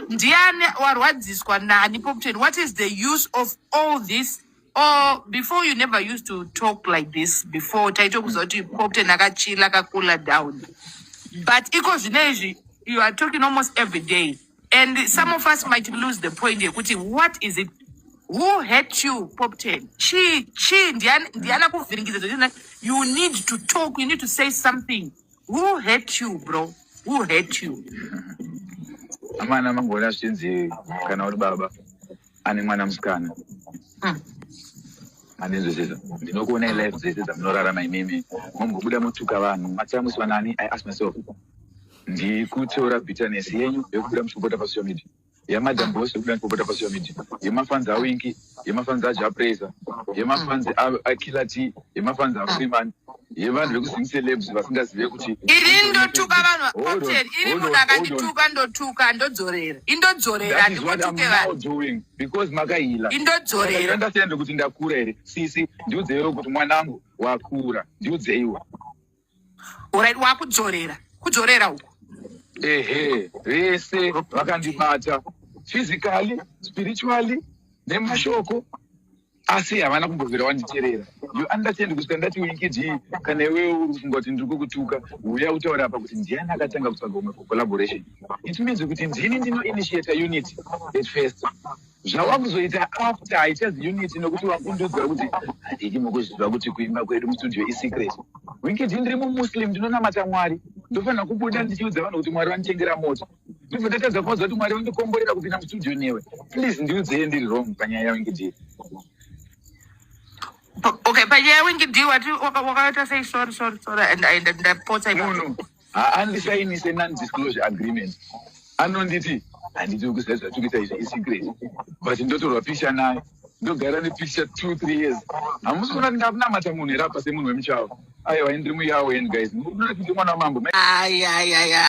ndiani warwadziswa nani popten what is the use of all this or before you never used to talk like this before taitokuziva kuti popten akachila akakula down but iko zvino izvi you are talking almost every day and some of us might lose the point yekuti what is it who hurt you pop ten chii chii ndiani ndiani akuvhiringidza zvekuti you need to talk you need to say something who hurt you bro who hurt you amana mangona zvinzi kana uri baba ane mwana musikana Mm. andinzwisisa ndinokuona ilife dzese dzamunorarama imimi mombobuda motuka vanhu matsamusiwa nani i ask myself ndikuteura bitterness yenyu yekubuda muchipopota pasocial media yamadam boss yekubuda muchipopota pasocial media yemafanzi awinki yemafanzi ajapraiser yemafanzi akiller t yemafanzi afreeman yevanhu vekuzing celebs vasingazive kuti iri ndotuka vanhu cocktail iri munhu akandituka ndotuka ndodzorera indodzorera ndikutuke vanhu because makahila indodzorera ndasiya ndekuti ndakura here sisi ndiudzeiwo kuti mwanangu wakura ndiudzeiwa Alright, wakudzorera. Kudzorera uko. Ehe, vese vakandibata physically, spiritually nemashoko asi havana kumbobvira wanditerera you understand kusvika ndati winkidii kana iwewe uri kufunga kuti ndiri kukutuka huya utaura apa kuti ndiani akatanga kutsvaga umwe for collaboration it means kuti ndini ndinoinitiata unity at first zvawakuzoita after haichaz unit nokuti wakundiudzira kuti handidi mukuzviziva kuti kuimba kwedu mustudio isecret winkidi ndiri mumuslim ndinonamata mwari ndofanira kubuda ndichiudza vanhu kuti mwari vanditengera moto ndibva ndatadza kuvaza kuti mwari vandikomborera kupinda mustudio newe please ndiudzei ndiri wrong panyaya yawinkidi okay panyaya yawinkidi wati wakaita sei sorry sorry sorry and ndapotsa no, no. haandisainise nondisclosure agreement anonditi handiti ukuziva zvatiri kuita izvi isecret but ndotorwa picture naye ndogara nepicture two three years hamusi kuona ndingakunamata munhu here apa semunhu wemuchawo aiwa ndiri muyawo en guys munoona kuti mwana wamambo ayayaya